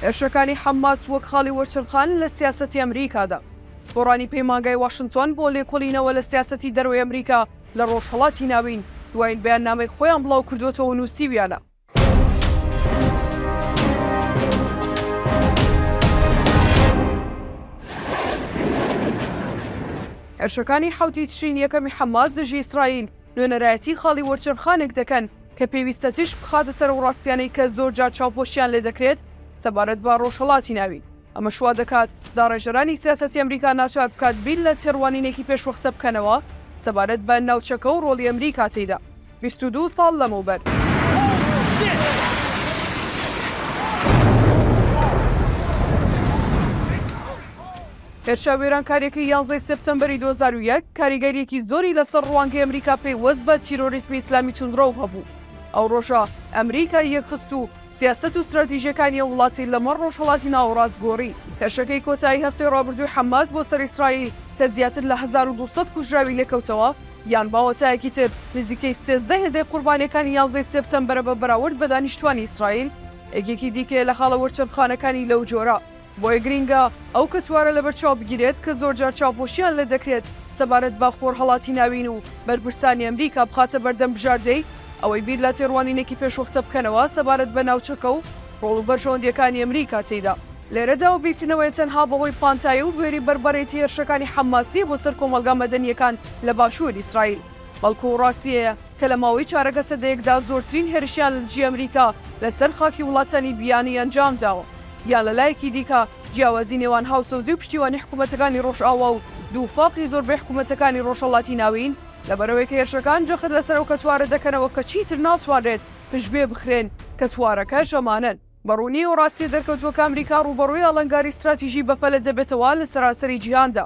هێرشەکانی حەمماس وەک خاڵی وەرچەرخان لە سیاسەتی ئەمریکادا. گۆڕانی پەیمانگای واشنتۆن بۆ لێکۆلینەوە لە سیاسەتی دەرەوەی ئەمریکا لە ڕۆژهەڵاتی ناوین، دوایین بەیاننامەی خۆیان بڵاو کردووەتەوە و نووسیویانە، هێرشەکانی حەوتی تشرینی یەکەمی حەمماس دژی ئیسرائیل، نوێنەرایەتی خاڵی وەرچەرخانێک دەکەن کە پێویستە تیشک بخاتە سەر ئەو ڕاستییانەی کە زۆرجار چاوپۆشیان لێ دەکرێت سەبارەت بە ڕۆژهەڵاتی ناوین، ئەمەش وا دەکات داڕێژەرانی سیاسەتی ئەمریکا ناچار بکات بیر لە تێڕوانینێکی پێشوەختە بکەنەوە سەبارەت بە ناوچەکە و ڕۆڵی ئەمریکا تێیدا بیست و دوو ساڵ لەمەوبەر. هێرشە وێرانکارییەکەی یانزە ی سێپتەمبەری دوو هەزار و یەک کاریگەرییەکی زۆری لەسەر ڕوانگەی ئەمریکا پەیوەست بە تیرۆریسمی ئیسلامی توندڕەو هەبوو. ئەو ڕۆژە ئەمریکا یەکخست و سیاسەت و ستراتیژییەکانی ئەو وڵاتی لەمەڕ ڕۆژهەڵاتی ناوەڕاست گۆڕی. هێرشەکەی کۆتایی هەفتەی ڕابردووی حەماس بۆ سەر ئیسرائیل کە زیاتر لە هەزار و دوو سەد کوژراوی لێکەوتەوە، یان باوەتایەکی تر نزیکەی سێزدە هێندەی قوربانییەکانی یانزەی سێپتەمبەرە بە بەراورد بە دانیشتووانی ئیسرائیل، یەکێکی دیکەیە لە خاڵە وەرچەرخانەکانی لەو جۆرە. بۆیە گرینگە ئەو کەتوارە لەبەرچاو بگیرێت کە زۆرجار چاوپۆشییان لێ دەکرێت سەبارەت بە خۆرهەڵاتی ناوین و بەرپرسانی ئەمریکا بخاتە بەردەم بژاردەی ئەوەی بیر لە تێڕوانینێکی پێشوەختە بکەنەوە سەبارەت بە ناوچەکە و ڕۆڵ و بەرژەوەندییەکانی ئەمریکا تێیدا. لێرەدا ئەو بیرکردنەوەیە تەنها بەهۆی پانتایی و بوێری بەربەرێتی هێرشەکانی حەمماس نییە بۆ سەر کۆمەڵگا مەدەنییەکان لە باشوور ئیسرائیل، بەڵکوو ڕاستی هەیە کە لە ماوەی چارەکە سەدەیەکدا زۆرترین هێرشیان لەدژی ئەمریکا لەسەر خاکی وڵاتانی بیانی ئەنجام داوە. یان لە لایەکی دیکە جیاوازی نێوان هاوسۆزی و پشتیوانی حکوومەتەکانی ڕۆژئاوا و دووفاقی زۆربەی حکوومەتەکانی ڕۆژهەڵاتی ناوین، لەبەرئەوەی کە هێرشەکان جەخت لەسەر ئەو کەتوارە دەکەنەوە کە چیتر ناتوانرێت پشتگوێ بخرێن، کەتوارەکەش ئەمانەن. بە ڕوونی و ڕاستییە دەرکەوتووە کە ئەمریکا ڕووبەڕووی ئاڵنگاری ستراتیژی بەپەلە دەبێتەوە لە سەرانسەری جیهاندا.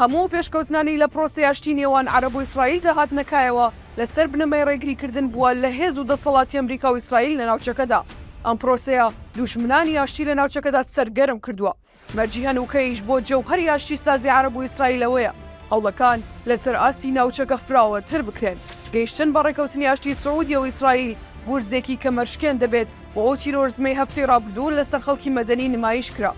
هەموو پێشکەوتنانی لە پرۆسەی ئاشتی نێوان عەرەب و ئیسرائیلدا هاتنە کایەوە لەسەر بنەمای ڕێگریکردن بووە لە هێز و دەسەڵاتی ئەمریکا و ئیسرائیل لە ناوچەکەدا. ئەم پرۆسەیە دوژمنانی ئاشتی لە ناوچەکەدا سەرگەرم کردووە. مەرجی هەنووکەیش بۆ جەوهەری ئاشتیسازی عەرەب و ئیسرائیل ئەوەیە هەوڵەکان لەسەر ئاستی ناوچەکە فراوانتر بکرێن. گەیشتن بە ڕێککەوتنی ئاشتی سعودیە و ئیسرائیل گورزێکی کەمەرشکێن دەبێت و ئەو تیرۆرزمەی هەفتەی ڕابردوو لەسەر خەڵکی مەدەنی نمایش کرا،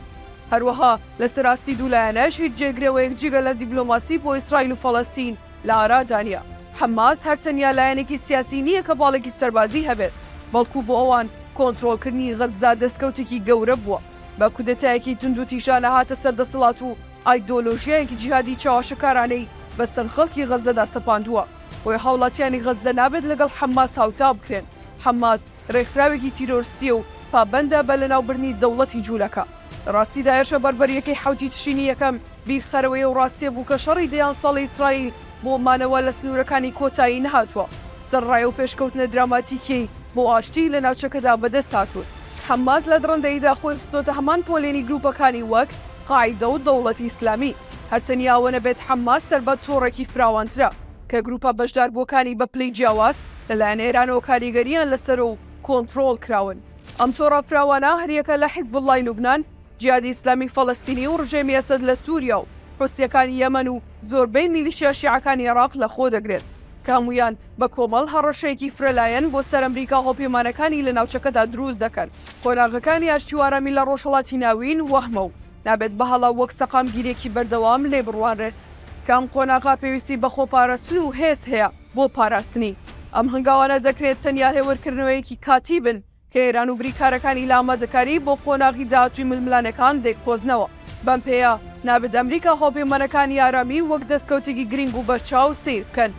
هەروەها لەسەر ئاستی دوو لایەنەش هیچ جێگرەوەیەک جگە لە دیبلۆماسی بۆ ئیسرائیل و فەڵەستین لە ئارادا نییە. حەماس هەر تەنیا لایەنێکی سیاسی نییە کە باڵێکی سەربازی هەبێت، بەڵکو بۆ ئەوان کۆنترۆڵکردنی غەززە دەستکەوتێکی گەورە بووە. بە کودەتایەکی توندوتیژانە هاتە سەر دەسەڵات و ئایدۆلۆژیایەکی جیهادی چەواشەکارانەی بەسەر خەڵکی غەززەدا سەپاندووە، بۆیە هاوڵاتیانی غەززە نابێت لەگەڵ حەماس هاوتا بکرێن. حەماس. رێکخراوێکی تیرۆرستییە و پابەندە بە لەناوبردنی دەوڵەتی جوولەکە. لە راستیدا هێرشە بەربەرییەکەی حەوتی تشرینی یەکەم بیرخەرەوەیە و راستییە بوو کە شەڕی دەیان ساڵی ئیسرائیل بۆ مانەوە لە سنوورەکانی کۆتایی نەهاتووە. سەرڕای ئەو پێشکەوتنە دراماتیکییەی بۆ ئاشتی لە ناوچەکەدا بەدەست هاتوون، حەماس لە دڕندەییدا خۆی خستۆتە هەمان پۆلێنی گرووپەکانی وەک قاعیدە و دەوڵەتی ئیسلامی. هەر تەنیا ئەوە نەبێت حەماس سەربە تۆڕێکی فراوانترە کە گرووپە بەشداربووەکانی بە پلەی جیاواز، لەلایەن ئێرانەوە کاریگەرییان لەسەرە و کۆنتڕۆڵ کراون. ئەم تۆڕە فراوانە هەریەکە لە حیزبوڵڵای لوبنان، جیهادی ئیسلامی فەڵەستینی و ڕژێمی ئەسەد لە سووریا و حوسییەکانی یەمەن و زۆربەی میلیشیا شیعەکانی عێراق لەخۆ دەگرێت کە هەموویان بە کۆمەڵ هەڕەشەیەکی فرەلایەن بۆ سەر ئەمریکا هەڵپێمانەکانی لە ناوچەکەدا دروست دەکەن. قۆناغەکانی ئاشتی و ئارامی لە ڕۆژهەڵاتی ناوین وەهمە و نابێت بە هەڵە وەک سەقامگیرییەکی بەردەوام لێ بڕوانرێت. کە ئەم قۆناغە پێویستی بە خۆپاراستن و هێز هەیە. بۆ پاراستنی ئەم هەنگاوانە دەکرێت تەنیا هێورکردنەوەیەکی کاتی بن کە ئێران و بریکارەکانی لە ئامادەکاری بۆ قۆناغی داهاتووی ململانێکان دەیقۆزنەوە. بەم پێیە نابێت ئەمریکا هاوپەیمانەکانی ئارامی وەک دەستکەوتێکی گرینگ و بەرچاو سەیر بکەن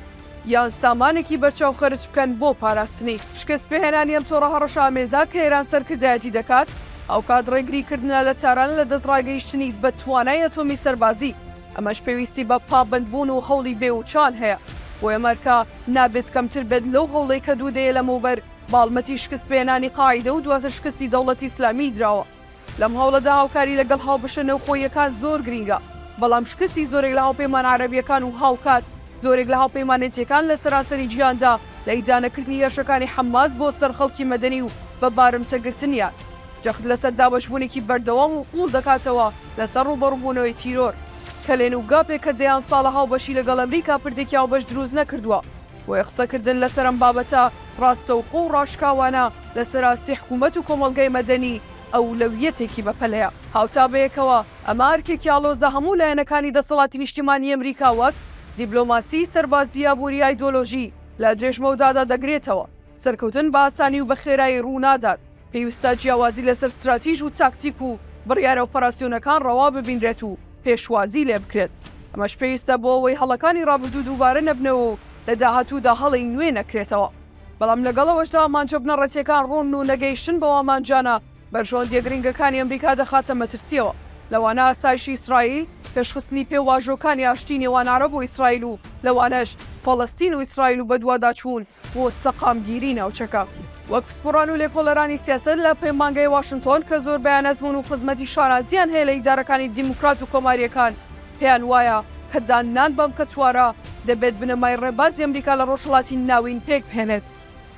یان سامانێکی بەرچاو خەرج بکەن بۆ پاراستنی. شکستپێهێنانی ئەم تۆڕە هەڕەشەئامێزە کە ئێران سەرکردایەتی دەکات، هاوکات ڕێگریکردنە لە تاران لە دەستڕاگەیشتنی بە توانای ئەتۆمی سەربازی. ئەمەش پێویستی بە پابەندبوون و هەوڵی بێ وچان هەیە، بۆیە مەرکە نابێت کەمتر بێت لەو هەوڵەی کە دوو دەیە لەمەوبەر بە هەڵمەتی شکست پێهێنانی قاعیدە و دواتر شکستی دەوڵەتی ئیسلامیی دراوە. لەم هەوڵەدا هاوکاری لەگەڵ هاوبەشە نێوخۆییەکان زۆر گرینگە، بەڵام شکستی زۆرێک لە هاوپەیمانە عەرەبییەکان و هاوکات زۆرێک لە هاوپەیمانێتییەکان لە سەرانسەری جیهاندا لە ئیدانەکردنی هێرشەکانی حەماس بۆ سەر خەڵکی مەدەنی و بە بارمتەگرتنیان، جەخت لەسەر دابەشبوونێکی بەردەوام و قووڵ دەکاتەوە. لەسەر ڕووبەڕووبوونەوەی تیرۆر، کەلێن و گاپێک کە دەیان ساڵە هاوبەشی لەگەڵ ئەمریکا پردێکی هاوبەش دروست نەکردووە، بۆیە قسەکردن لەسەر ئەم بابەتە ڕاستەوخۆ و ڕاشکاوانە لەسەر ئاستی حکوومەت و کۆمەڵگای مەدەنی ئەولەویەتێکی بەپەلەیە. هاوتا بەیەکەوە، ئەمە ئەرکێکی ئاڵۆزە هەموو لایەنەکانی دەسەڵاتی نیشتیمانیی ئەمریکا وەک، دیبلۆماسی، سەربازی، ئابووری، ئایدۆلۆژی، لە درێژمەودادا دەگرێتەوە. سەرکەوتن بە ئاسانی و بە خێرایی ڕوو نادات. پێویستە جیاوازی لەسەر ستراتیژ و تاکتیک و بڕیارە ئۆپەراسیۆنەکان ڕەوا ببینرێت و پێشوازی لێ بکرێت. ئەمەش پێویستە بۆ ئەوەی هەڵەکانی ڕابردوو دووبارە نەبنەوە و لە داهاتوودا هەڵەی نوێ نەکرێتەوە. بەڵام لەگەڵ ئەوەشدا ئامانجە بنەڕەتییەکان ڕوونن و نەگەیشتن بەو ئامانجانە بەرژەوەندییە گرنگەکانی ئەمریکا دەخاتە مەترسییەوە، لەوانە ئاسایشی ئیسرائیل، پێشخستنی پێواژۆکانی ئاشتیی نێوان عەرەب و ئیسرائیل و لەوانەش فەڵەستین و ئیسرائیل و بەدواداچوون بۆ سەقامگیری ناوچەکە. وەک پسپۆڕان و لێکۆڵەرانی سیاسەت لە پەیمانگەی واشنتۆن کە زۆربەیان ئەزموون و خزمەتی شانازییان هەیە لە ئیدارەکانی دیموکرات و کۆمارییەکان پێیان وایە کە داننان بەم کەتوارە دەبێت بنەمای ڕێبازی ئەمریکا لە ڕۆژهەڵاتی ناوین پێک بهێنێت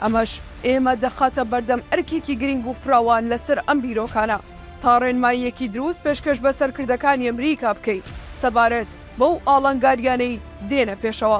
ئەمەش ئێمە دەخاتە بەردەم ئەرکێکی گرینگ و فراوان لەسەر ئەم بیرۆکانە تا ڕێنماییەکی دروست پێشکەش بە سەرکردەکانی ئەمریکا بکەین سەبارەت بەو ئاڵنگارییانەی دێنە پێشەوە.